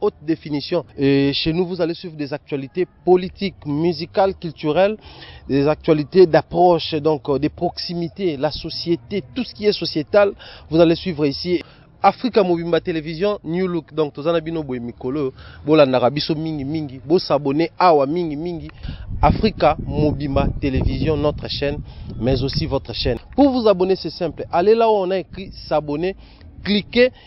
haute définition. Et chez nous, vous allez suivre des actualités politiques, musicales, culturelles, des actualités d'approche, donc euh, des proximités, la société, tout ce qui est sociétal, vous allez suivre ici. Africa Mobimba Télévision, New Look, donc tozana bino boye mikolo, bolandaka biso mingi mingi, bo s'abonner awa mingi mingi, Africa Mobimba Télévision, notre chaîne, mais aussi votre chaîne. Pour vous abonner, c'est simple, allez là où on a écrit s'abonner, cliquez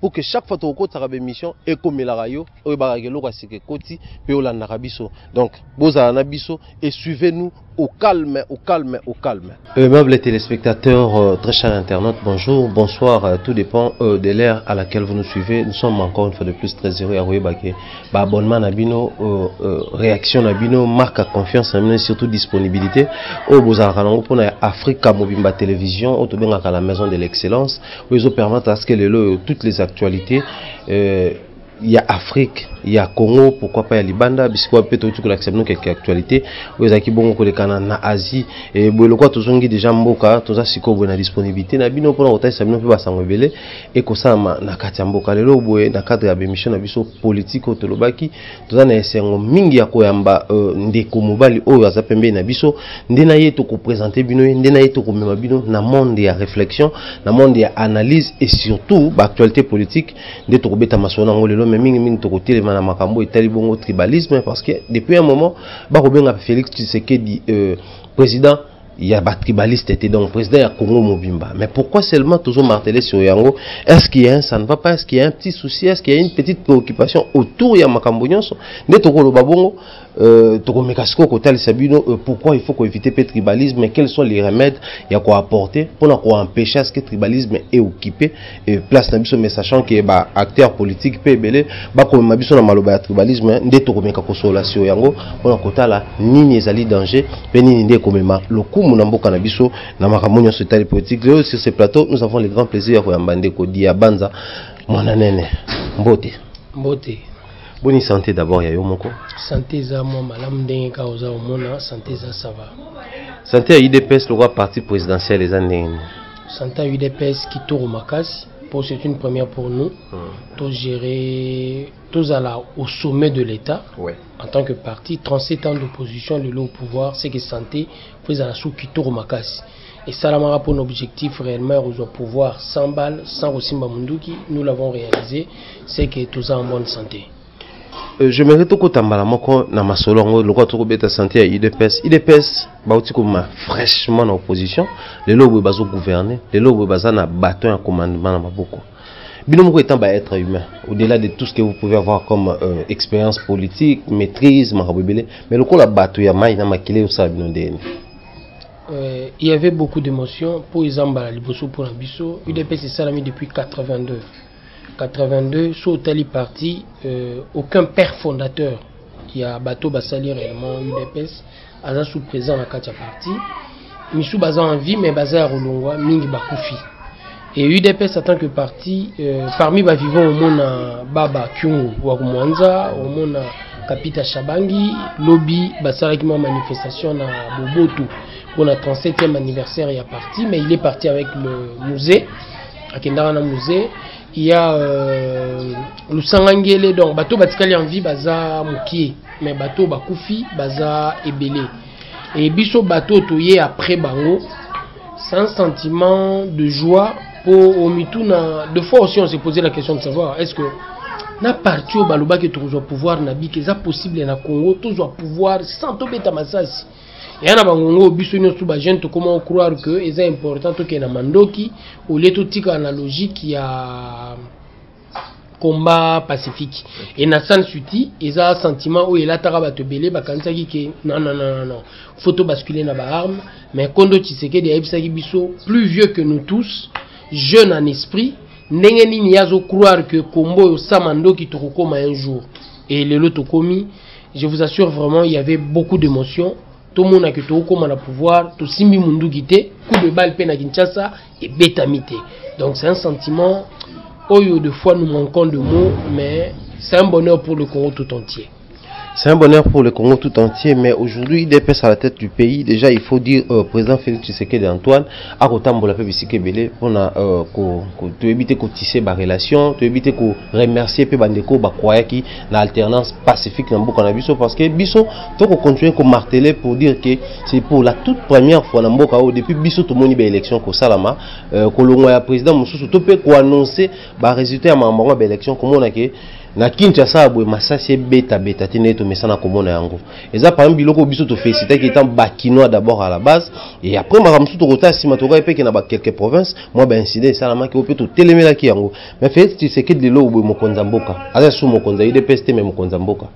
pour que chaque fois tokokotisaka ba émission ekomelaka yo oyebaka ke eloko ya sika ekoti mpe olandaka biso donc bozala na biso et suivez nous au calme au calme au calme aimable téléspectateur euh, très cher internaute bonjour bonsoir euh, tout dépend euh, de l'heure à laquelle vous nous suivez nous sommes encore une fois de plus très heureux ya koyeba ke ba abonnement na bino euh, euh, réaction na bino marque à confiance na bino et surtout disponibilité oyo bozalaka nango mpona ya afrika mobimba télévision oyo tobengaka la maison de l'excellence oyo ezo permettre à ce que lelo oyo toutes les actualités euh, ya afrique ya congo pourquoi pas ya libanda bisika wapi mpe touti kolakisa bino keke actualité oyo ezalaki bongo kolekana na asie e, boye lokola tozongi deja mboka toza sikoyo boye na disponibilité na bino mpona kotalisa bino mpe basango ebele ekosalama na kati ya mboka lelo boye na cadre ya bemission na biso politike oyo tolobaki toza na esengo mingi ya koyamba uh, ndeko mobali oyo aza pembeni na biso nde na ye tokopresente bino ye nde na ye tokomema bino na monde ya réflexion na monde ya analyse et surtout baactualité politique nde tokobeta masolo na yango lelo mai mingi mingi tokotelema na makambo etali bongo tribalisme parce que depuis un moment bakobenga félix tshisekedi uh, président ya ba tribaliste te donc président ya Congo mobimba mais pourquoi seulement toujours marteler sur yango est-ce qu'il y a un ça ne va pas est-ce qu'il y a un petit souci est-ce qu'il y a une petite préoccupation autour ya makambo nyonso nde tokoloba bongo euh, tokomeka sikoyo kotalisa bino euh, pourquoi il faut koéviter mpe tribalisme quels sont les remèdes ya koapporter mpona koempêche ce que tribalisme eokipe et place na biso mais sachant que ba acteurs politiques pe ebele bakomema biso na maloba ya tribalisme nde tokomeka kosola sio yango mpona kotala nini ezali danger pe nini nde ekomema lokumu na mboka na biso na makambo nyonso etali politique leo sur ce plateau nous avons le grand plaisir ya koyamba ndeko dia banza mwana nene mbote mbote boni santé d'abord ya yo moko santé eza mwa malamu ndenge kaka oza omona santé eza sava santé ya idps lokola parti présidentiel eza ndenge nini Santa udps kitoko makasi po c'est une première pour nous hmm. to gérer tozala au sommet de l'état ouais. en tant que parti 37 ans d'opposition lelo au pouvoir c'est que santé po ezala sous kitoko makasi esalamaka mpo na objectif réellement ya kozwa pouvoir sans balle sans kosimba monduki nous l'avons réalisé c'est que toza en bonne santé Euh, je mérite tokota mbala moko na masolo yango lokola tokobeta sante ya udps udps bauti koma fraîchement na opposition lelo boye bazogouverne lelo boye baza na baton ya commandement na maboko bino moko etant baêtre humain au-delà de tout ce que vous pouvez avoir comme euh, expérience politique maîtrise makambo ebele mais lokola bato ya mai na makila eyosala bino ndeni Euh, il y avait beaucoup d'émotions mpo eza mbala liboso mpo na biso udps esalami depuis 82 82 so otali parti euh, aucun père fondateur ya bato basali réellement udps aza sous présent na kati ya parti misu baza en vie mais baza ya kolongwa mingi bakufi et udps en tant que parti euh, parmi bavivant omona baba kyungu wa kumwanza omona kapita shabangi lobi basalaki mwa manifestation na bobotu mpona 37e anniversaire ya parti mais il est parti avec le musée akendaka na musée ya euh, lusanga ngele donc bato batikali en vie baza mokie mais bato bakufi baza ebele e biso bato toye après bango sans sentiment de joie mpo omituna de fois aussi on se posait la question de savoir est ce que na parti oyo balobaki tokozwa pouvoir na bika eza possible na congo tozwa pouvoir sans tobeta masasi ya na bangongo oyo biso nyonso bajeune tokoma ocroire que eza important tokende na mandoki olie totikala na logique ya combat pacifique et na san suti eza sentiment oyo elataka bato ebele bakanisaki ke non non non non faut tobascule na baarme mais kondo tshisekedi ayebisaki biso plus vieux que nous tous jeune en esprit ndenge nini ye azocroire ke kombo oyo sama ndoki tokokoma un jour e lelo tokomi Je vous assure vraiment il y avait beaucoup d'émotions tomona ke tokokoma na pouvoir tosimbi munduki te coup de balle mpe na kinshasa ebetami te donc c'est un sentiment oyo de fois nous manquons de mots mais c'est un bonheur pour le congo tout entier C'est un bonheur pour le Congo tout entier, mais aujourd'hui, il est à la tête du pays. Déjà, il faut dire, euh, président Félix Tshisekedi Antoine, à Kotambola Pébisike Belé, on a, euh, éviter de tisser des relations, éviter de remercier Pébandeko Bakwayaki, na alternance pacifique na mboka na biso parce que biso toko continuer ko marteler pour dire que c'est pour la toute première fois na mboka oyo depuis biso tomoni ba élection kosalama euh, kolongwa ya président mosusu to mpe koannonce ba résultat ya makambo yango ya ba élection komona ke na kinshasa ya boye masasi ebetabeta te ndenge tomesana komona yango eza parmi biloko biso tofelisitaki etant bakinois d'abord à la base et après makambo mosusu tokota nsima tokai mpeke na bakelke province mwa baincident esalamaki oyo mpe totelemelaki yango Mais Felix Tshisekedi lelo oboye mokonzi ya mboka. Aza sous mokonzi ya UDPS te mais mokonzi ya mboka.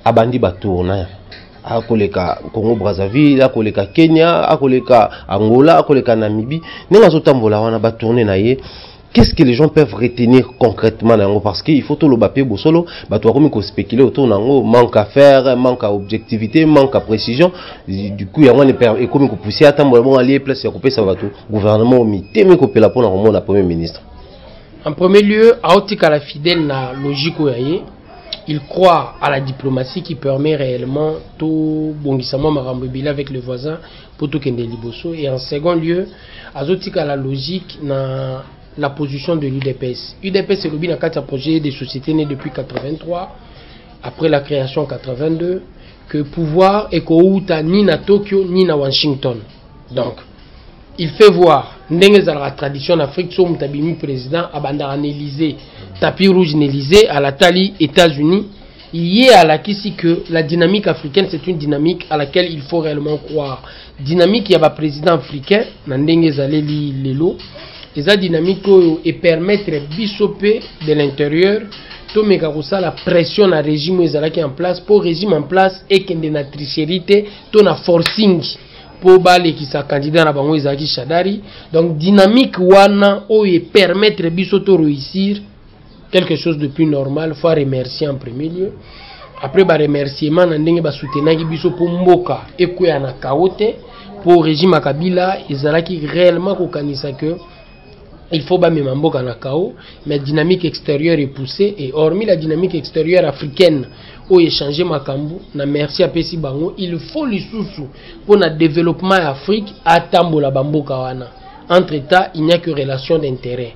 Abandi ba tourna. Akoleka Congo Brazzaville, akoleka Kenya, akoleka Angola, akoleka Namibie. Ndenge azotambola wana ba tourner na ye. Qu'est-ce que les gens peuvent retenir concrètement na yango parce qu'il faut tout le bapé bosolo bato bakomi ko spéculer autour na yango manque à faire manque à objectivité manque à précision du coup yango ne ekomi ko pousser atambola bongo alie place ya kopesa bato gouvernement omitemi kopela mpo na komona premier ministre En premier lieu, aotikala fidèle na logique oyo ye. Il croit à la diplomatie qui permet réellement tout bondissement makambo ebele avec les voisins pour tout kende liboso. Et en second lieu, azotikala logique na la position de l'UDPS. UDPS elobi na kati ya projet de société né depuis 83 après la création en 82 que pouvoir ekouta ni na Tokyo ni na Washington. Donc il fait voir ndenge ezalaka tradition na afrique so moto abimi président abandaka na élysée tapis rouge na élysée alatali états-unis ye alakisi que la dynamique africaine c'est une dynamique à laquelle il faut réellement croire dynamique ya baprésident africain na ndenge ezaleli lelo eza dynamique oyo epermettre biso mpe de l'intérieur tomeka kosala pression na régime oyo ezalaki en place mpo régime en place ekende na tricherie te to na forcing mpo balekisa candidat na bango ezalaki shadari donc dynamique wana oyo epermettre biso to réussir quelque chose de plus normal faut remercier en premier lieu après baremerciement na ndenge basoutenaki biso mpo mboka ekweya na kao te mpo régime ya kabila ezalaki réellement kokanisa que il faut bamema mboka na kao mais dynamique extérieure epousse et hormis la dynamique extérieure africaine oyo echange makambo na merci apesi bango il faut lisusu mpo na développement ya afrique atambola bamboka wana entre état il n'y a que relation d'intérêt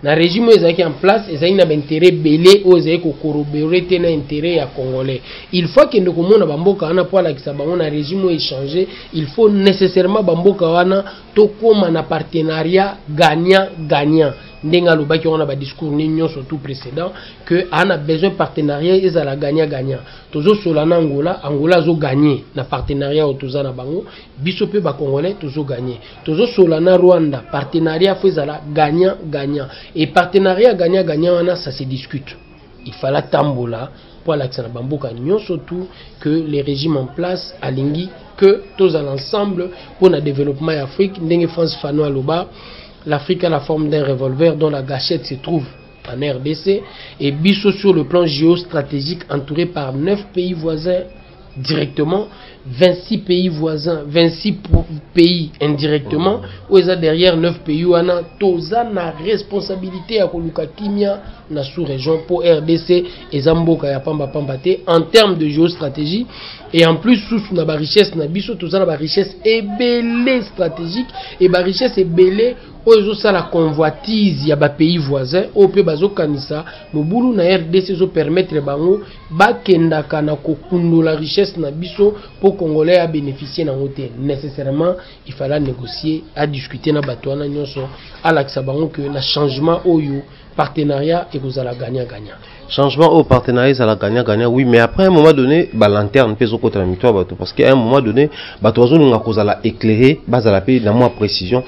na régime oyo ezalaki en place ezalaki na baintérêt ebele oyo ezalaki kokorobore te na intérêt ya congolais il faut akende komona bamboka wana mpo alakisa bango na régime oyo echange il faut nécessairement bamboka wana tokoma na partenariat gagnant gagnant ndenge alobaki wana badiscours ni nyonso tout précédent que ana besoin partenariat ezala gagnant gagnant tozosola na angola angola azogagne na partenariat oyo toza na bango biso mpe bacongolais tozogagne tozosola na rwanda partenariat fo ezala gagnant gagnant et partenariat gagnant gagnant wana ça se discute Il fallait atambola mpo alakisa na bamboka nyonso tout que le régime en place alingi que tozala ensemble mpo na développement ya Afrique ndenge France Fanon aloba l'Afrique a la forme d'un revolver dont la gâchette se trouve en RDC et biso sur le plan géostratégique entouré par neuf pays voisins directement 26 pays voisins 26 pays indirectement oyo eza derrière 9 pays wana toza na responsabilité ya koluka kimia na sous région mpo rdc eza mboka ya pamba pamba te en terme de géostratégie et en plus susu na barichesse na biso toza na barichesse ebele stratégique et barichesse ebele oyo ezosala convoitise ya bapays voisin oyo mpe bazokanisa mobulu na rdc ezopermettre bango bakendaka na kokundola richesse na biso mpo congolais a bénéficier nango te nécessairement il fallait à négocier à discuter na bato wana nyonso alakisa bango que na changement oyo partenariat ekozala gagnant gagnant changement au partenariat ezala gagnant gagnant oui mais après un moment donné ba lanterne mpe ezokota na mito ya bato parce que à un moment donné bato bazolinga kozala éclairé bazala mpe na mwa précision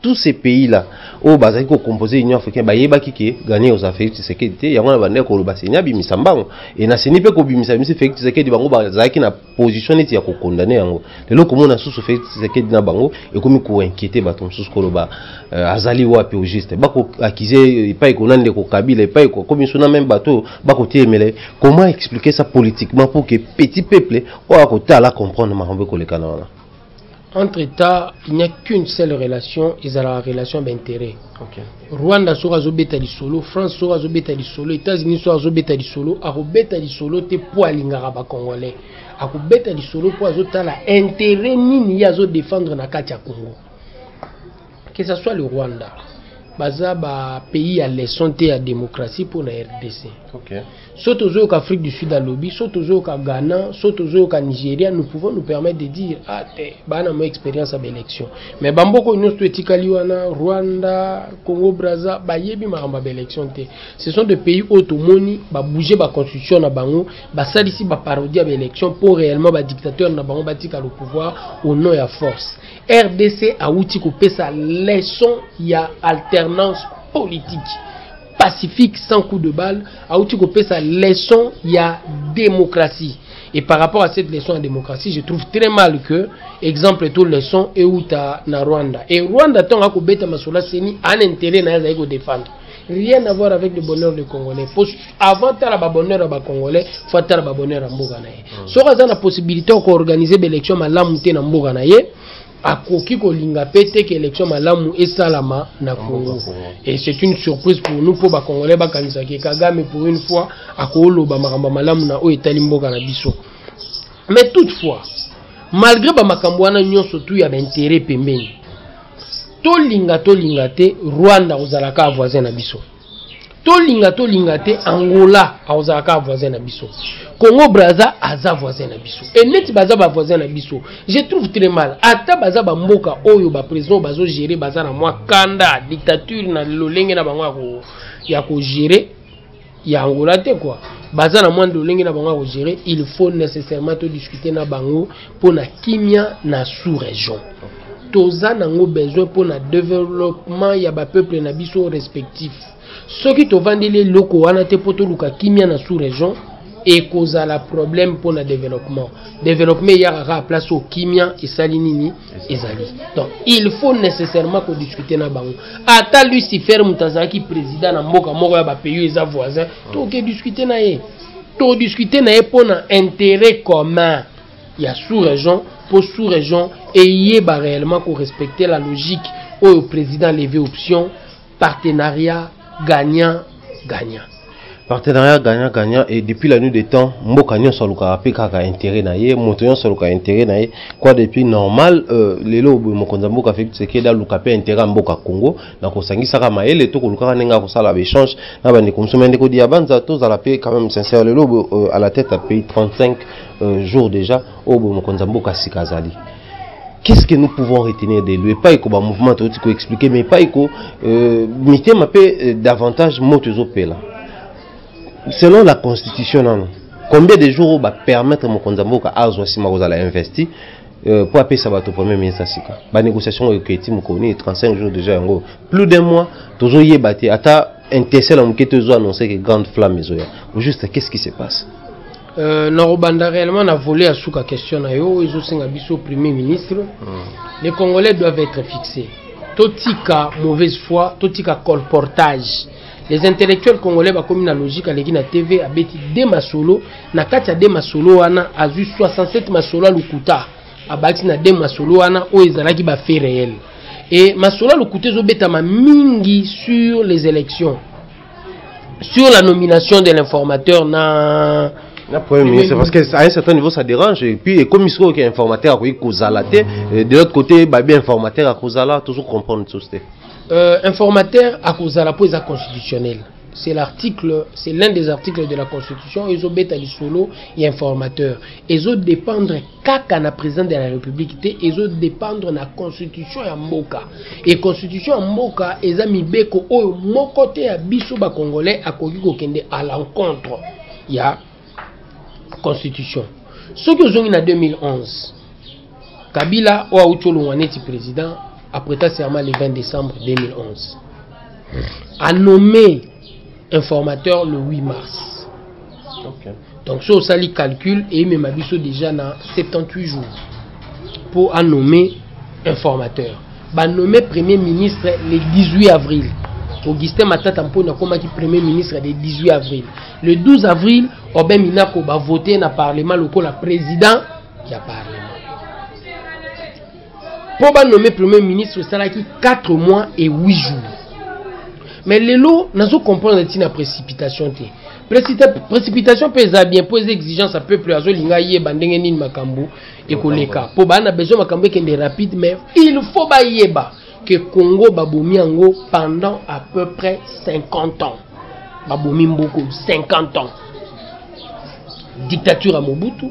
tous ces pays là oyo bazali ko composer union africaine bayebaki ke gagner oza Felix Tshisekedi te yango na bandaki koloba seni abimisa mbango e na seni mpe kobimisa bimisi Felix Tshisekedi bango bazalaki na position neti ya kokondane yango lelo komona susu Felix Tshisekedi na bango ekomi koinquiete bato mosusu koloba euh, azali wapi au juste bakoakize epai kona ndeko Kabila epai kokomi suna meme bato oyo bakotiemele comment expliquer ça politiquement pour que petit peuple oyo akotala comprendre makambo ekolekana wana entre temps il n'y a qu'une seule relation ezalaka relation d'intérêt okay. rwanda soki azobeta lisolo france soki azobeta lisolo états-unis soki azobeta lisolo akobeta lisolo te mpo alingaka bacongolais akobeta lisolo mpo azotala intérêt nini ye azodefendre na kati ya congo Que ça soit le Rwanda, baza ba pays ya leçon te ya démocratie mpo na rdc okay. so tozoyoka afrique du sud alobi so tozoyoka ghana so tozoyoka nigeria nous pouvons nous permettre de dire ah te bana mo expérience ya baélection mais bamboko nyonso to etikali wana rwanda congo braza bayebi makambo ya baélection te ce sont de pays oyo tomoni babouge baconstitution na bango basalisi baparodi ya baélection mpo réellement badictateur na bango batika le pouvoir au nom ya force rdc awuti kopesa leçon ya alternance politique pacifique sans coup de balle awuti kopesa leçon ya démocratie et par rapport à cette leçon ya démocratie je trouve très mal que exemple to leçon euta na rwanda et rwanda ntango akobeta masolo aseni an intérêt na ye azali kodefendre rien à voir avec le bonheur de congolais po avant tala babonheur ya bacongolais fo atala babonheur ya mboka na ye hmm. soki aza na possibilité ya koorganize baélection malamu te na mboka na ye akoki kolinga mpe te ke élection malamu esalama na congo et c'est une surprise pour nous mpo bacongolais bakanisaki kagame pour une fois akooloba makambo malamu na oyo etali mboka na biso mais toutefois malgré bamakambo wana nyonso tu ya baintérêt pembeni tolinga tolinga te rwanda akozala kaka voisin na biso tolinga tolinga te angola akozala kaka voisin na biso congo braza aza voisin na biso e neti baza bavoisin na biso je trouve très mal ata baza bamboka oyo baprésident oyo bazogere baza na mwa kanda dictature na lolenge na bango ya kogere ya angola te kua baza na mwa ndolenge na bango ya kogere il faut nécessairement todiscute na bango mpo na kimia na sous région toza nango besoin mpo na développement ya bapeuple na biso respectif soki tovandeli eloko wana te mpo toluka kimia na sous région ekozala problème mpo na développement développement eyaka kaka place oyo kimia esali nini ezali donc il faut nécessairement kodiscute na bango ata lucifer moto azalaki président na mboka moko ya bapays eza voisin ah. toke discute na ye todiscute na ye mpo na intérêt commun ya sous région mpo sous région eyeba réellement korespecte la logique oyo président levé option partenariat gagnant gagnant partenariat gagnant gagnant et depuis la nuit des temps mboka nyonso alukaka mpe kaka intérêt na ye moto nyonso aluka intérêt na ye quoi depuis normal euh, lelo boye mokonzi ya mboka felix tshisekedi aluka mpe intérêt ya mboka congo na kosangisaka mayele to kolukaka ndenge ya kosala baéchange na bandeko mosusu mai ndeko diabanza tozala mpe quand même sincère lelo boye euh, à la tête ya pays 35 euh, jours déjà oyo boye mokonzi ya mboka sika azali qu'est-ce que nous pouvons retenir de lui epai ko bamouvement touti koexplike mais epai ko euh, mitema mpe euh, davantage moto ezopela selon la constitution nano combien de jours oyo bapermettre mokonzi ya mboka azwa nsima kozala investi euh, mpo apesa bato premier ministre ya sika banégociation oyo eketi mokoni 35 jours déjà yango plus d'un mois tozoyeba te ata intesel ya moke to ezo annonce ke grande flamme ezoya juste qu'est ce qui se passe Euh, na kobanda réellement na volet ya suka question na yo ezosenga biso premier ministre hmm. les congolais doivent être fixés totika mauvaise foi totika colportage les intellectuels congolais bakomi na logique aleki na tv abeti de masolo na kati ya de masolo wana azwi 67 masolo ya lokuta abakisi na de masolo wana oyo ezalaki bafait réel e masolo ya lokuta ezobetama mingi sur les élections sur la nomination de l'informateur na na premier ministre parce que à un certain niveau ça dérange et puis ekomi sikoyo ke informateur akoki kozala te de l'autre côté babi informateur akozala tozo comprendre sosi te euh, informateur akozala mpo eza constitutionnel c'est l'article, c'est l'un des articles de la Constitution, ils ont bêta du solo et informateur. Ils ont dépendre kaka na president de la republique te ezo dependre na constitution ya mboka e constitution ya mboka eza mibeko oyo moko te ya biso bacongolais akoki kokende à l'encontre ya constitution soki ozongi na 2011 kabila oyo auti olongwa neti président apreta serment le 20 décembre 2011 anome informateur le 8 mars okay. donc so osali calcul eyemema biso déjà na 78 jours mpo anomme informateur banomme premier ministre le 18 avril augustin matata mponi akomaki premier ministre le 18 avril le 12 avril obe minako bavote na parlement lokola président ya parlement mpo ba nomme premier ministre esalaki 4 mois et 8 jours mais lelo nazo comprendre ntina précipitation te précipitation mpe eza bien mpo eza exigence ya peuple azolinga ayeba ndenge nini makambo ekoleka mpo baa na besoin makambo ekende rapide mais il faut bayeba que congo babomi yango pendant à peu près 50 ans babomi mboko 50 ans dictature ya mobutu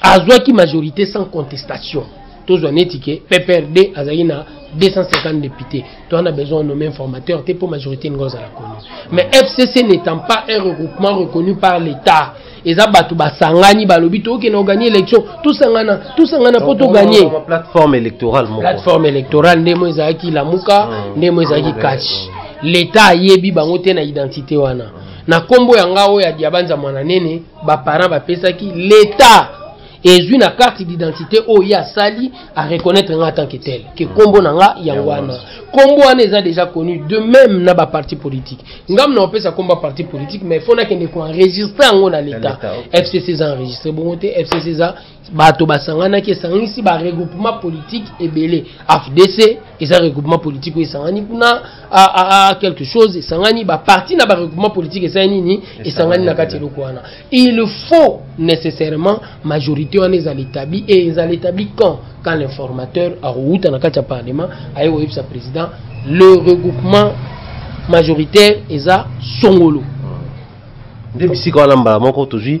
azwaki majorité sans contestation tozwa neti ke pprd azalaki na 250 députés to on a besoin nommer un formateur te mpo majorité elingi ozala connu mais fcc n'étant pas un regroupement reconnu par l'état eza bato basangani balobi tokende oganye élection tosangana tosangana mpo toganye plateforme électorale moko plateforme électorale ndemo ezalaki lamuka hmm. ndemo ezalaki cash l'état ayebi bango te na identité wana na nkombo ya nga oyo ya diabanza mwana nene baparent bapesaki leta ezwi na carte d'identité oyo ye asali areconnaitre nga tant que tel ke nkombo na nga yango wana nkombo wana eza déjà connu de même na baparti politique ngam na opesa nkombo ya parti politique mais fo nakende koenregistre yango na leta fcc eza enregistre bongo te fcc eza bato basanganaki esanganisi ba regroupement politique ebele afdc eza regroupement politique oyo esangani kuna quelque chose esangani baparti na baregroupement politique esali nini esangani na kati eloko wana il faut nécessairement majorité wana ezala établi e ezala établi quand quand l'informateur akowuta na kati ya parlement aye koyebisa président le regroupement majoritaire eza songolo nde bisika wana mbala moko tozwi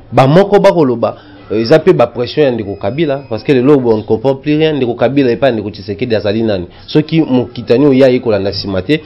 bamoko bakoloba euh, eza mpe bapression ya ndeko kabila parce que lelo on comprend plus rien ndeko kabila epai ya ndeko tshisekedi azali nani soki mokitani oyo ye aye kolanda nsima te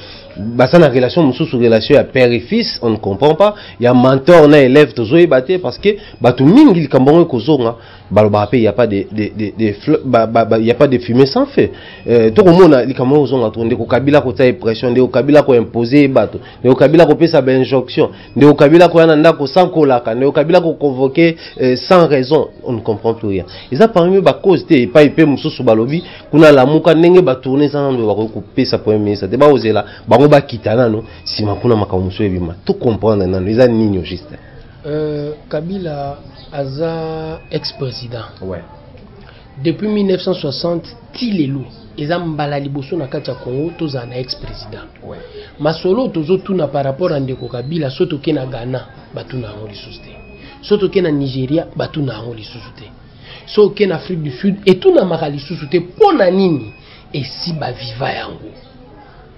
baza na relation mosusu relation ya père et fils on ne comprend pas ya mentor na élève tozoyeba te parce que bato mingi likambo yango ekozonga balobaka mpe ya pas de, de, de, de, fle- ba- ba- ba- ya pas de fumée sans feu euh, tokomona likambo yango kozonga to ndeko kabila kotia ye pression ndeko kabila koimpose ye bato ndeko kabila kopesa bainjonction ndeko kabila akoya na ndako sans kolaka ndeko kabila koconvoke euh, sans raison on ne comprend plus rien eza parmi bacause te epai mpe mosusu balobi kuna lamuka ndenge batourne eza nano bakoki kopesa premier ministre te bakozela bango bakita nano nsima kuna makambo mosusu ebima to comprendre nano eza nini juste euh, kabila aza ex président ouais. Depuis 1960 ti lelo eza mbala liboso na kati ya Congo tozala na ex president. Ouais. Masolo tozo tuna par rapport à ndeko Kabila so toke na Ghana batuna yango lisusu te. So toke na Nigeria batuna yango lisusu te. So oke na Afrique du Sud etunamaka lisusu te mpo na nini esi baviva yango.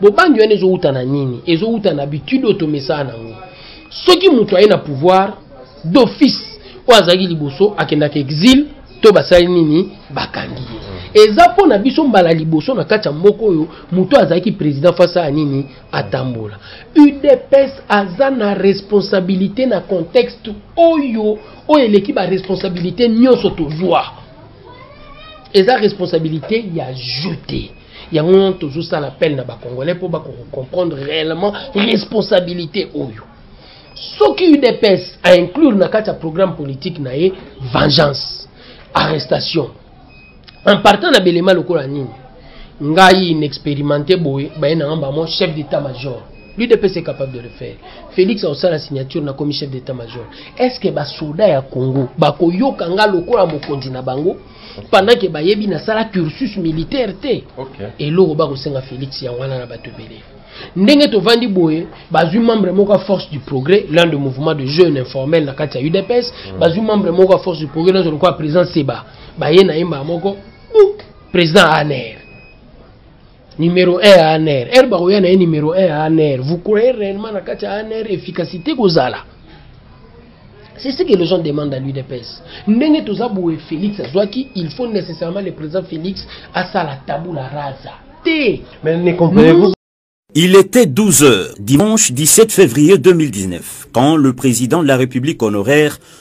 bobangi wana ezowuta na nini ezowuta na habitude oyo tomesana na yango soki moto aye na pouvoir d'office oyo azalaki liboso akendaka exile to basali nini bakangi ye eza mpo na biso mbala liboso na kati ya mboka oyo moto azalaki président face ya nini atambola udps aza na responsabilité na contexte oyo oyo eleki baresponsabilité nyonso tozwa eza responsabilité ya jeu te yango wana tozosala appel na bacongolais mpo bakoko comprendre réellement responsabilité oyo soki udps ainclure na kati ya programme politique na ye vengeance arrestation en partant na belema lokola nini ngai inexpérimenté boye baye na nga bamo chef d'état major l'udps est capable de le faire félix akosala signature nakomi chef d'état major est ce que basoda ya congo bakoyoka nga lokola mokonzi na bango pendant que bayebi nasala cursus militaire te okay. eloko bakosenga félix yango wana na bato ebele ndenge tovandi boye bazwi membre moko ya force du progrès l'un de mouvement de jeune informel na kati ya udps mm. bazwi membre moko ya force du progrès nazo lokola président seba baye na ye mbala moko président aner numéro 1 ya ANR heure bakoya na ye numéro 1 ya ANR vous croyez réellement na kati ya ANR efficacité kozala c'est ce que les gens demandent à l'UDPS ndenge toza boye Félix azwaki il faut nécessairement le président Félix asala tabula raza te mais ne comprenez-vous Il était 12 heures, dimanche 17 février 2019, quand le président de la République honoraire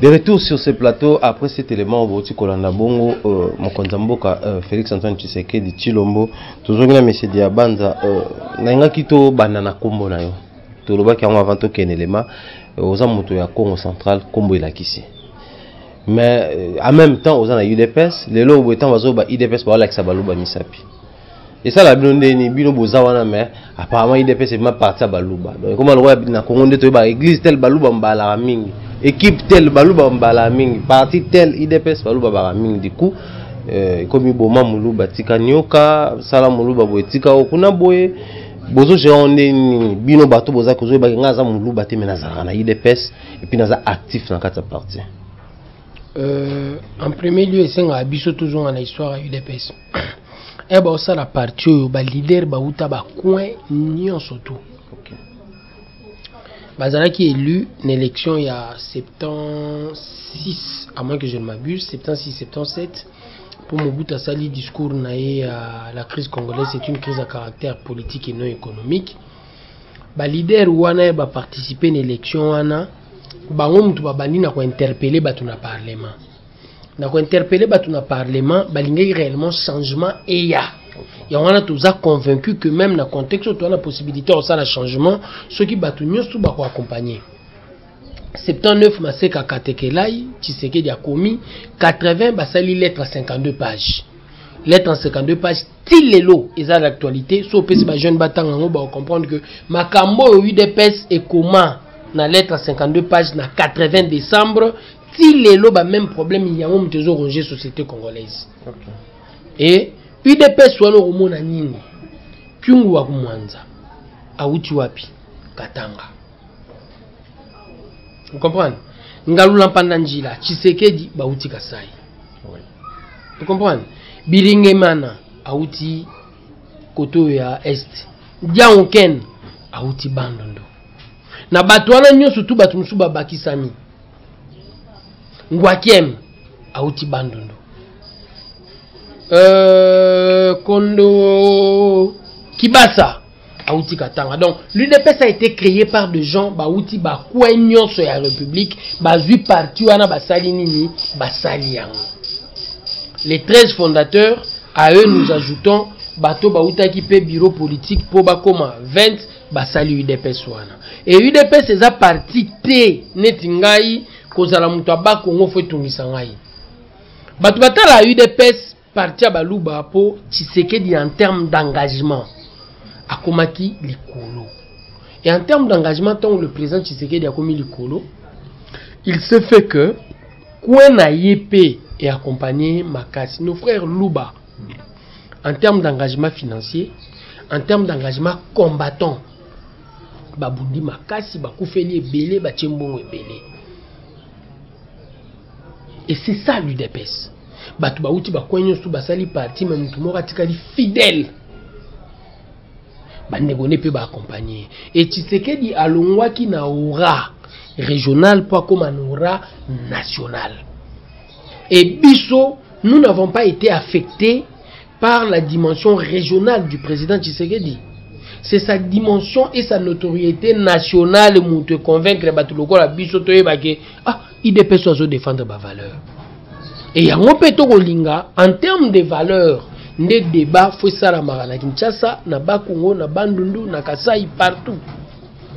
De retour sur ce plateau après cet élément boti kolanda bongo euh, mokonzi ya mboka euh, Félix Antoine Tshisekedi Chilombo tozongi na monsieur Diabanza euh, nalingaki tobanda na nkombo na yo tolobaki yango avant tokende elema euh, oza moto ya Congo central nkombo elakisi mais euh, en même temps oza na UDPS lelo boye ntango bazoba UDPS baolakisa baluba misapi esala bino ndeni bino boza wana mais apparemment idps ebima parti ya baluba donc ekoma lokola na congo nde toyeba église tel baluba mbalaka mingi équipe tel baluba mbalaka mingi parti tel idps baluba baka mingi du coup euh, ekomi boma moluba tika nioka sala moluba boye tika o kuna boye bozozwa yango nde nini bino bato boza kozoyebaki ngai aza moluba te me nazalaka na idps epuis naza actif na kati ya parti euh, en premier lieu esengaka biso tozonga na histoire ya udps eh ba osala parti oyo ba leader ba uta ba coin nyonso tout okay. bazalaki élu na élection ya 76 à moins que je ne m'abuse 76 77 pour Mobutu asali discours na ye à la crise congolaise c'est une crise à caractère politique et non économique ba leader wana ba participer na élection wana bango mutu babandi na kointerpele bato na parlement na ko interpeller bato na parlement balingaki réellement changement eya yango wana toza convaincu que même na contexte oyo toza na possibilité ya kosala changement soki bato nyonso bakoaccompagne 79 maseka katekelai tshisekedi akomi 80 basali lettre 52 page lettre 52 page ti lelo eza l'actualité so opesi bajeune batanga yango baocomprendre que makambo oyo udps ekoma na lettre 52 page na 80 décembre ti lelo ba même problème yango moto ezo ronger société congolaise okay. e udps wana okomona nini kyungu wa kumwanza awuti wapi katanga vous comprenez ngalula mpanda njila tshisekedi bawuti kasai oui. vous comprenez biringemana awuti kote oyo ya est diango ken awuti bandundu na bato wana nyonso tu bato mosusu babakisami ngwakiem auti bandundu euh, kondo kibasa auti katanga donc l'udps a été créé par des gens bauti bakwe nyonso ya république bazwi parti wana basali nini basali yango les 13 fondateurs à eux nous ajoutons bato bautaki mpe bureau politique mpo bakoma 20 basali udps wana e udps eza parti te neti ngai kozala moto aba kongo fo etungisa ngai bato batala udps parti ya baluba mpo tshisekedi en terme d'engagement akomaki likolo et en terme d'engagement ntango le président tshisekedi akomi likolo il se fait que kue na ye mpe eaccompagne makasi nos frères luba en terme d'engagement financier en terme d'engagement combattant babundi makasi bakufeli ebele batie mbongo ebele et c'est ça l'udps bato bauti bakwei nyonso basali parti me motu moko atikali fidèle bandeko nde mpe baakompagne e tshisekedi alongwaki na ora régional mpo akóma na ora national Et biso, nous n'avons pas été affectés par la dimension régionale du président Tshisekedi. C'est sa dimension et sa notoriété nationale qui te convaincre bato lokola biso toyeba ke ah idps ozo défendre ba valeur et yango mpe tokolinga en termes de valeur nde débat fo esalamaka na kinshasa na bakongo na bandundu na kasai partout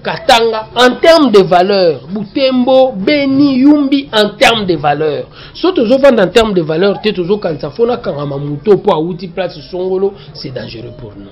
Katanga en termes de valeur, Butembo, Beni, Yumbi en termes de valeur. So tozo vendre en termes de valeur, te tozo kanisa fona kangama moto po awuti place songolo, c'est dangereux pour nous.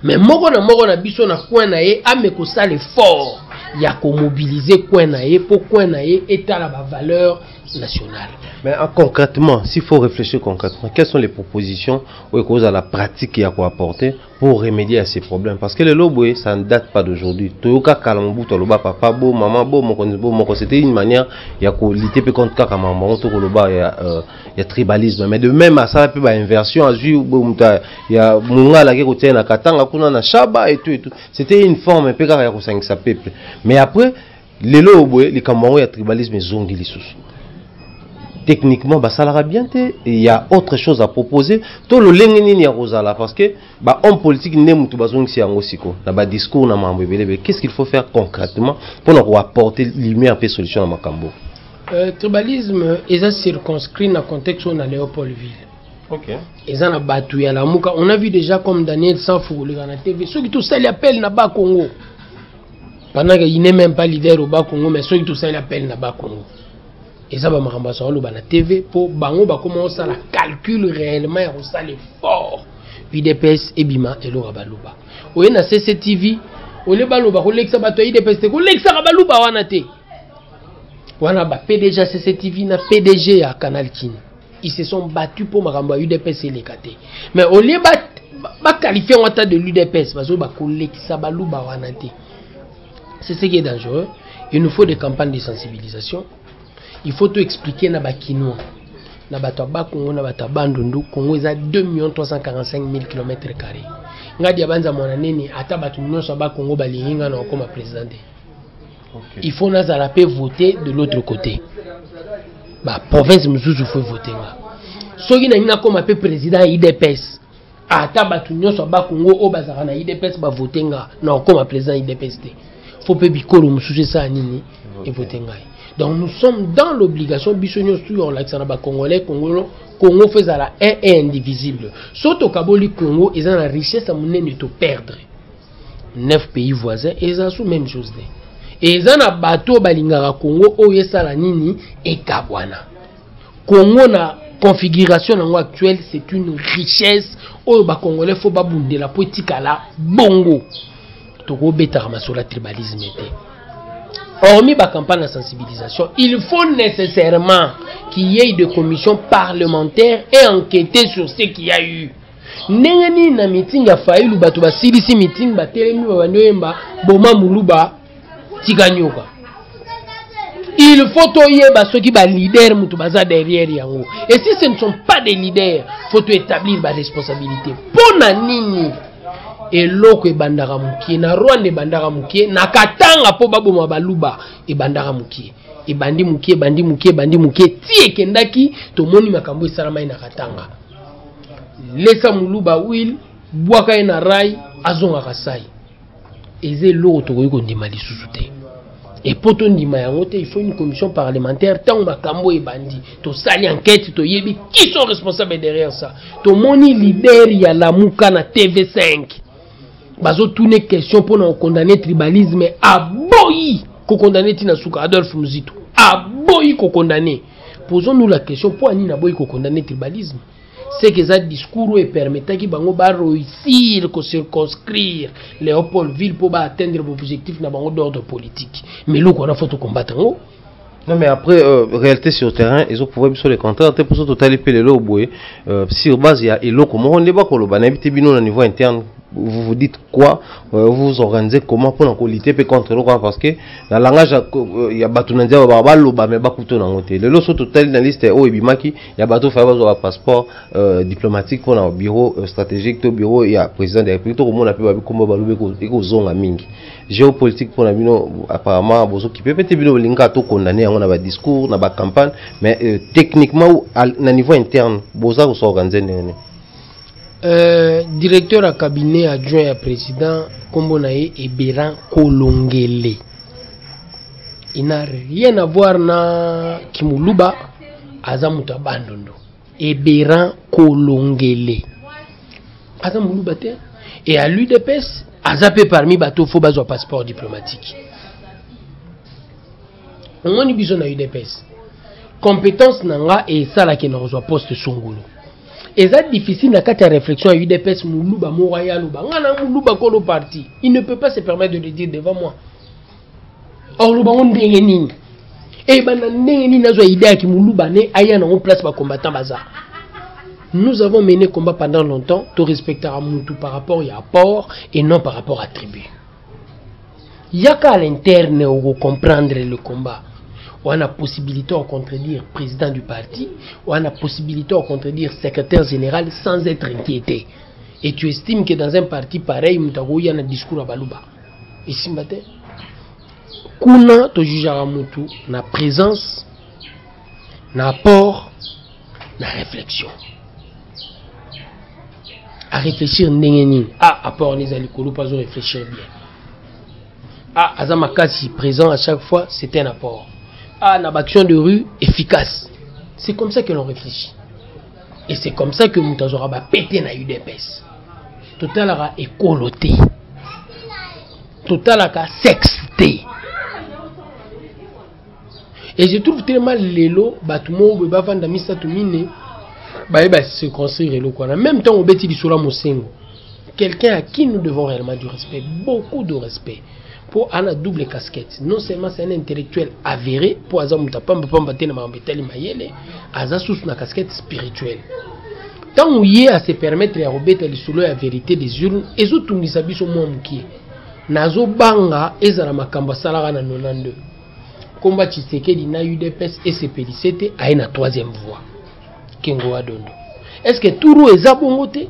Mais moko na moko na biso na coin na ye ame kosala effort ya ko mobiliser coin na ye po coin na ye etala ba valeur nationale. Mais ah, concrètement, s'il faut réfléchir concrètement, quelles sont les propositions ou la pratique à quoi apporter pour remédier à ces problèmes parce que le lobo ça ne date pas d'aujourd'hui toyoka kala mobutu aloba papa bo maman bo mokonzi bo moko c'était une manière ya kolite mpe contre kaka makambo yango tokoloba ya, euh, ya tribalisme mais de même asala mpe bainversion azwi moto ya mongala ake kotia ye na katanga kuna na shaba et tout et tout c'était une forme mpe kaka ya kosangisa peuple mais après lelo oyo boye likambo yango ya tribalisme ezongi lisusu techniquement basalaka bien te il y a autre chose à proposer to lolenge nini ya kozala parce que ba homme politique nde motu bazongisi yango siko na ba discours na mambo ebelebele qu'est ce qu'il faut faire concrètement mpo na koapporter lumière mpe solution na makambo euh, tribalisme eza circonscrit na contexte oyo na léopoldville Okay. eza na bato ya lamuka on a vu déjà comme daniel sanfou koleka na tv soki tosali appel na ba congo pendant que il n'est même pas leader au bas Congo mais ceux qui tout ça il appelle na bas Congo eza ba makambo azo loba na TV po bango ba koma osala calcul réellement ya kosala effort UDPS ebima elora baluba oye na CCTV ole baloba kolekisa bato ya UDPS te kolekisaka baluba wana te wana ba PDG ya CCTV na PDG ya Canal Kin ils se sont battus mpo makambo ya udps eleka te mais au lieu baqualifie yango ata de l'udps bazoyi bakolekisa baluba wana te c'est ce qui est dangereux il nous faut des campagnes de sensibilisation il faut to expliquer na bakinois na bato ya bakongo na bato ya bandundu kongo eza 2 million 345 000 km carré ngai diabanza mwana nini ata bato nyonso ya bakongo balingi ngai na kokoma président te okay. il faut nazala mpe vote de l'autre côté baprovince mosusu faut vote nga soki nalingi nakóma mpe président ya idps ata bato nyonso ya bakongo oyo bazalaka na idps bavote nga nakokóma président ya idps te fo mpe bikolo mosusu esala nini evote ngai donc nous sommes dans l'obligation biso nyonso tuya kolakisa na bacongolais congolo congo fo ezala un et indivisible so tokaboli congo eza na richesse ya monene toperdre 9 pays voisins eza sous même chose te eza na bato oyo balingaka congo oyo esala nini ekabwana congo na configuration na yango actuelle c'est une richesse oyo bacongolais fo babundela mpo etikala bongo tokobetaka masolo ya tribalisme te hormis bacampagne ya sensibilisation il faut nécessairement qu'il y ait de commission parlementaire et enquêter sur ce qu'il y a eu ndenge nini na meeting ya failu bato basilisi meeting batelemi babandi oyemba boma muluba tika nyoka il faut toyeba soki baleader moto baza derrière yango et si ce ne sont pas des leaders faut toétablir baresponsabilité mpo na nini eloko ebandaka mokie na rwanda ebandaka mokie na katanga mpo baboma baluba ebandaka mokie ebandi mokie ebandi mokie ebandi mokie ti ekendaki tomoni makambo esalamai na katanga lesa muluba wil bwaka ye na rai azongaka sai eza eloko tokoki kondima lisusu te epo tondima yango te il faut une commission parlementaire ntango makambo ebandi tosali enquête toyebi qui sont responsable derrière ça tomoni leader ya lamuka na tv5 bazotune question mpo na kokondane tribalisme aboyi kokondane ntina suka adolphe muzito aboyi kokondane Posons nous la question mpo ani naboyi kokondane tribalisme seke eza discours oyo epermetaki bango bareusir kocirconscrire léopoldville mpo baatteindre baobjectif na bango d'ordre politique mais eloko wana fo tokombata yango Non mais après euh, réalité sur terrain ils ont prouvé biso le contraire te poso totali mpe lelo boye euh, sur base ya eloko moko nde bakoloba nayebi te bino na niveau interne vous vous dites quoi euh, vous vous organisez comment pour nous lutter pe contre quoi parce que la langage ya euh, bato na nzela ba baloba mais bakuto nango te lelo so totali na liste oyo ebimaki ya bato faye bazwa passeport euh, diplomatique pour na bureau stratégique to bureau ya président de la république tokomona mpe babikomba balobi ekozonga mingi géopolitique mpo na bino apparemment bozokipe mpe te bino bolingaka tokondane yango na badiscours na bacampagne mais techniquement na niveau interne boza kosorganize ndenge nini Euh, directeur ya cabinet adjoint ya président nkombo na ye eberan kolongele il n'a rien à voir na kimuluba aza moto ya bandundu eberan kolongele aza moluba te e a l'udps aza mpe parmi bato fo bazwa passeport diplomatique omoni biso na udps compétence na nga esalaki na kozwa poste songolo eza difficile na kati ya réflexion ya udps moluba moko aya aloba nga na moluba kolo parti il ne peut pas se permettre de le dire devant moi oloba ngo ndenge nini eyebana eh, ndenge nini nazwa idée ya kimoluba ne aya nango place bacombattant baza nous avons mené combat pendant longtemps torespectaka mutu par rapport ya apport et non par rapport à tribu yaka à l'interne comprendre le combat wana possibilité ya contredire président du parti wana possibilité ya contredire secrétaire général sans être inquiété et tu estimes que dans un parti pareil moto akoya na discours ya baluba esimba te kuna tojugeaka motu na présence na apport na réflexion à réfléchir ndenge nini ah apport neza likolo mpe azo réfléchir bien ah aza makasi présent à chaque fois c'est un apport ah na baaction de rue efficace c'est comme ça que l'on réfléchit et c'est comme ça que moto azwaka bapete na udps totalaka ekolo te totalaka sexe te et je trouve très mal lelo bato moko boye bavanda misato mine baye baseconstruire eloko wana même ntango obeti lisolo ya mosengo quelqu'un à qui nous devons réellement du respect beaucoup de respect mpo ana double casquette non seulement c'est un intellectuel avéré mpo aza moto apamba pamba te na makambo etali mayele aza susu na casquette spirituelle ntango ye ase permettre ya kobeta lisolo ya verité des urnes ezotungisa biso mwa mokie Nazo banga ezala makambo asalaka na 92 komba Tshisekedi na UDPS esepelise te aye na troisième voie Kengo wa dondo est ce que turu eza bongo te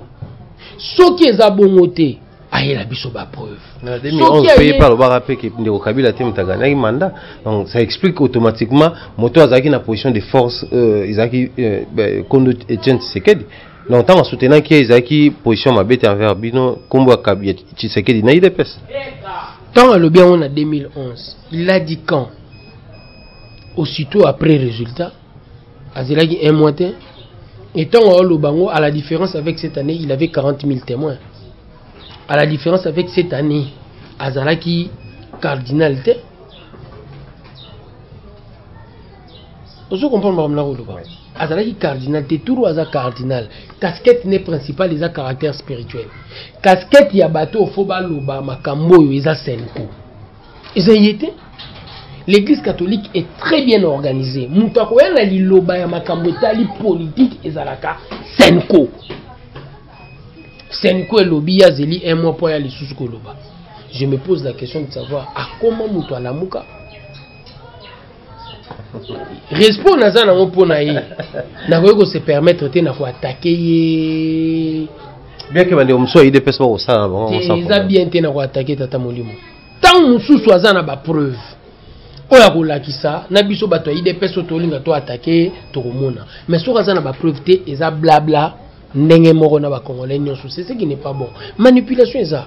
soki eza bongo te ayela biso bapreuve mpe epa alobaka mpe ke ndeko kabila te moto aganaki mandat donc ça explique automatiquement moto azalaki na position de force euh, ezalaki euh, kondo etienne tshisekedi donc ntango asutenaki ye ezalaki position mabe te envers bino nkombo ya kabi ya tshisekedi na idps ntango alobi yango na 2011 il a dit quand aussitôt après résultat azelaki un mois te et ntango aoloba yango à la différence avec cette année il avait 40 000 témoins à la différence avec cette année azalaki cardinal te ozo comprendre makambo nakoloba azalaki cardinal te turu aza cardinal casquette ne principal eza caractère spirituel casquette ya bato oyo fo baloba makambo oyo eza senko eza ye te l'église catholique est très bien organisée moto akoya na liloba ya makambo etali politike ezalaka senko senko elobi ye azeli un mois mpo aya lisusu koloba je me pose la question de savoir akoma moto alamuka respect naza nango mpo na ye nakoki kose permettre te na koatake ye bien ke bandeko mosusu ya idps bakosala na bango eza bien te na koatake tata molimo ntango mosusu aza na bapreuve oyo akolakisa na biso bato ya idps oyo tolinga to atake ye tokomona mais soki aza na bapreuve te eza blabla ndenge moko na bacongolais nyonso seseki ne pas bon manipulation eza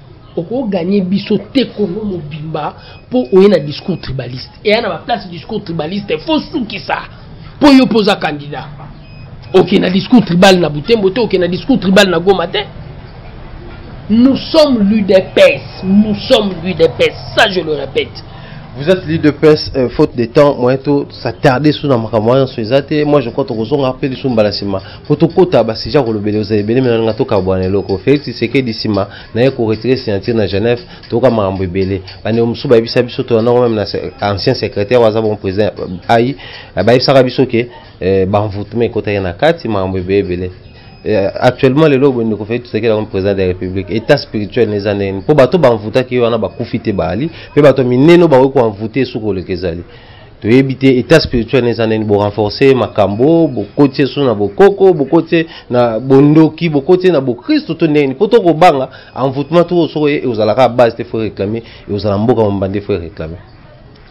okoganye biso te congo mobimba mpo oye na discours tribaliste eya na baplace discours tribaliste fo sukisa mpo yo mpo oza candidat oke na discours tribal na butembo te oke na discours tribal na goma te nous sommes l'udps nous sommes l'udps ça je le répète vous êtes l'udps euh, faute de temps moyen to s'attarder sous na makambo wana nyonso eza te moi je crois tokozonga mpe lisusu mbala nsima po tokota basujet ya kolobela oza ebele me nalinga tokabwana eloko félix tshisekedi nsima na ye koretire signature na genève toyoka makambo ebele bandeko mosusu bayebisa biso tolandango meme na ancien secrétaire aza bon président ai eh, bayebisaka biso ke eh, banvutuma ekotaki na kati makambo ebele ebele eh, actuellement lelo boye ndeko félix tshisekedi akomi président de la république état spirituel neza ndenge nini mpo bato banvutaki ye wana bakufi te baali mpe bato minene bakoki koanvute esuki koleka ezali toyebi te état spirituel eza nini borenforce makambo bokoti ye so na bokoko bokoti ye na bondoki bokoti ye na bokristo to ndenge nini mpo tokobanga envoûtement to soko ye eozalaka base te fo réclame eozala mboka mobimba nde fo réclame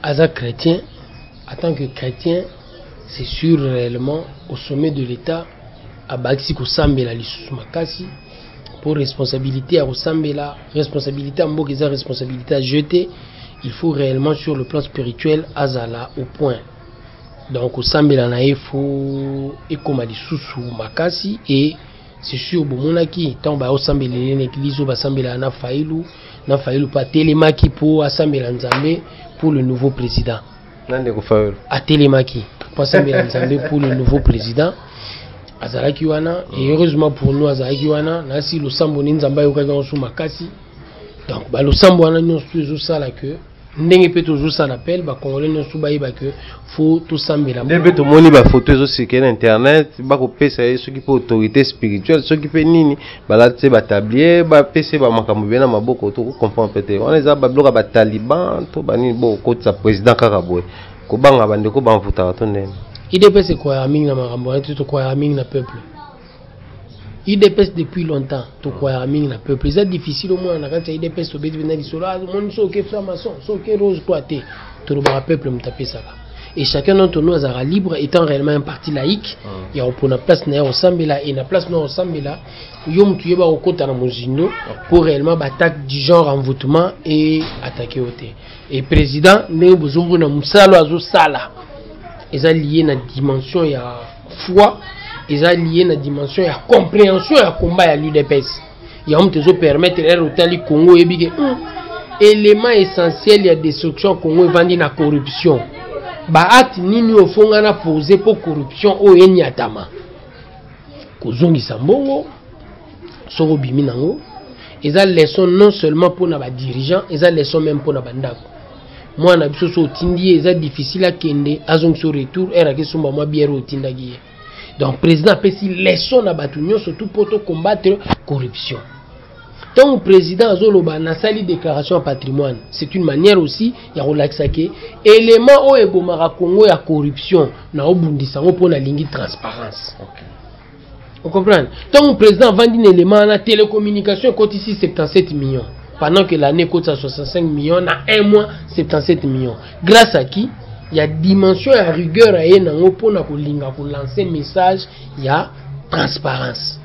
aza chrétien en tant que chrétien c'est sûr réellement au sommet de l'état abakisi kosambela lisusu makasi mpo responsabilité ya kosambela responsabilité ya mboka eza responsabilité ya jeu te il faut réellement sur le plan spirituel azala au point donc kosambela na ye fo ekoma lisusu makasi e c'est sûr bomonaki ntango bayosambela ye na eglize oyo basambelaka na failu na failu mpe atelemaki mpo asambela nzambe pour le nouveau président na ndeko fayolo atelemaki pasambela nzambe pour le nouveau président azalaki wana et heureusement pour nous azalaki wana nasi losambo ni nzambe ayokaki yango so makasi donc balosambo wana nyonso tu ezosala que ndenge mpe tozosala appel bakongole nyonso bayeba ke fo tosambela nde mpe tomoni bafoto ezosikele na internet bakopesa ye soki mpe autorité spirituelle soki mpe nini balati se batablier bapesi ye bamakambo ebele na maboko to comprendre mpe te wana eza babiloko ya bataliban to banini bo okotisa président kaka boye kobanga bandeko bamvutaka to ndeni idps ekwayaka mingi na makambo wana te tokwayaka mingi na peuple idps depuis longtemps tokwayaka mingi na peuple eza difficile omona na kati ya idps tobeti mpenza lisolo ah, omoni soki oke framason soki rose toi te tolobaka peuple moto apesaka et chacun d'entre nous azalaka libre étant réellement un parti laïque ah. ya kopona place na ye kosambela et na place na kosambela yo motu yeba kokota na mozindo mpo ah. réellement baattaque du genre envoûtement e attaqué yo te et président ndenge bozombo na mosala azosala eza lié na dimension ya foi eza lié na dimension ya compréhension ya combat ya l'udps yango moto ezo permettre ere otali congo oyebi ke hmm, élément essentiel ya destruction ya congo evandi na corruption baacte nini oyo fonga na pose mpo corruption oyo enyatama kozongisa mbongo soki obimi nango eza leçon non seulement mpo na badirigeant eza leçon meme mpo na bandako mwana biso so otindi ye eza difficile akende azongisa retour ere akesomba mwa biere otindaki ye donc président apesi leçon na bato nyonso tout mpo tocombattre corruption ntango président azoloba nasali déclaration ya patrimoine c'est une manière aussi ya kolakisa ke élément oyo ebomaka congo ya corruption na obundisa yango mpo nalingi transparence okay. ocomprendre ntango président avandi na élément wana télécommunication ekotisi 77 millions pendant que l'année ekotisa 65 millions na un mois 77 millions Grace à qui ya dimension ya rigueur aye nango mpo na kolinga kolanse message ya transparence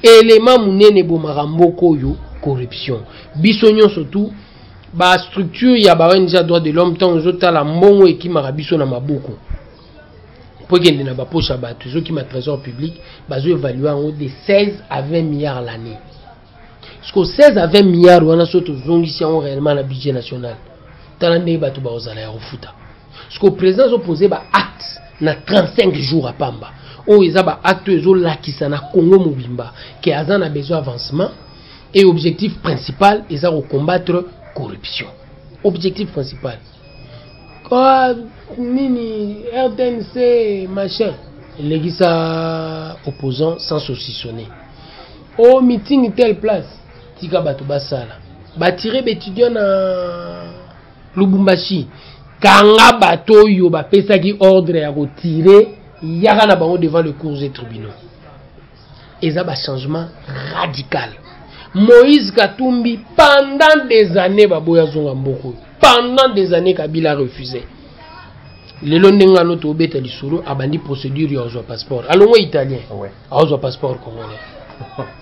elema monene ebomaka mboka oyo corruption biso nyonso tu bastructure ya ba ong ya droit de l'homme ntango ezotala mbongo ekimaka biso na maboko mpo ekende na baposha bato ezokima trésor public bazoevalue yango de 16 à 20 milliards l'année siko 16 à 20 milliard wana so tozongisi yango réellement na budget national tala ndenge bato bakozala ya kofuta siko président azopose baacte na 35 jours apamba oyo eza baacte oyo ezolakisa na congo mobimba ke aza na besoin avancement et objectif principal eza kocombattre corruption objectif principal Kwa nini RTNC machin elekisa opposant sans saucissonner au meeting telle place tika bato basala batire baétudiant na lubumbashi kanga bato oyo bapesaki ordre ya kotire yaka na bango devant le cours et tribunaux eza ba changement radical moïse katumbi pendant des années baboya zonga mboka oyo pendant des années kabila refuse lelo ndenge ano tobeta lisolo abandi procédure ya ozwa passeport alongo italien aozwa passeport congolais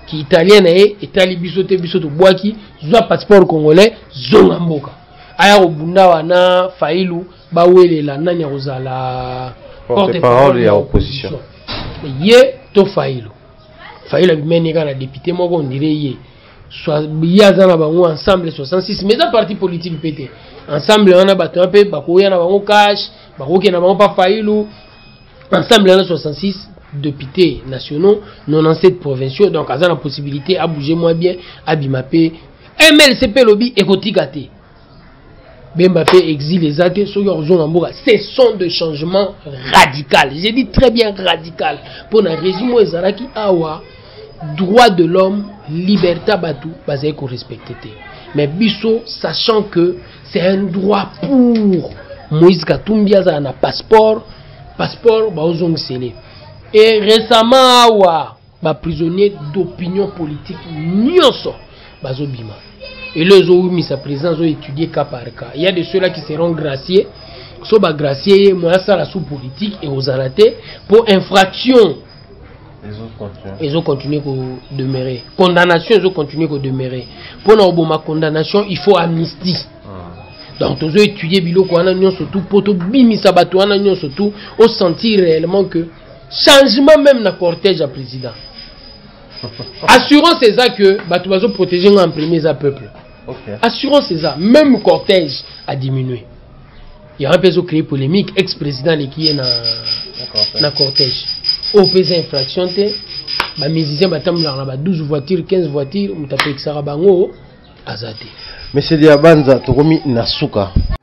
kiitalien na ye etali biso te biso tobwaki zwa passeport congolais zonga mboka aya kobunda wana failu bawelela nani akozala porte parole ya opposition ye to fayilo fayilo abimani kaka na depute moko ondire ye ye aza na bango ensemble 66 mais eza parti politique mpe te ensemble wana bato wana mpe bakoya na bango cash bakokenda bango mpa fayilo ensemble wana 66 députés nationaux 97 provinciaux donc aza na possibilité abouge mwa bien abima mpe mlcp elobi ekotika te bemba pe exil eza te soki akozonga mboka ce sont de changement radical j'ai dit très bien radical mpo na régime oyo ezalaki awa droit de l'homme liberté ya bato bazali korespecte te mais biso sachant que c'est un droit pour moïse katumbi azala na passeport passeport baozongisele e récemment awa Ba prisonniers d'opinion politique nionso bazo bima. Elo ezo wumisa president zo étudier cas par cas. Il y a de ceux-là qui seront graciés. So ba gracier ye moya sala sous politique et aux alatés pour infraction ezo continuer ko demeurer condamnation ezo continuer ko demeurer mpo na oboma condamnation il faut amnistie ah. donc tozo étudier biloko wana nyonso tu mpo tobimisa bato wana nyonso tu osentir réellement que changement meme na cortège ya président assurance eza que bato bazoprotege ngai en premier eza peuple okay. assurance eza même cortège a diminue yango mpe ezocree polémique ex président aleki ye na, na cortège oyo mpe eza infraction te bamusicien batambolaka na ba 12 voiture 15 voiture moto apekisaka bango aza te monsieur diabanza tokomi na suka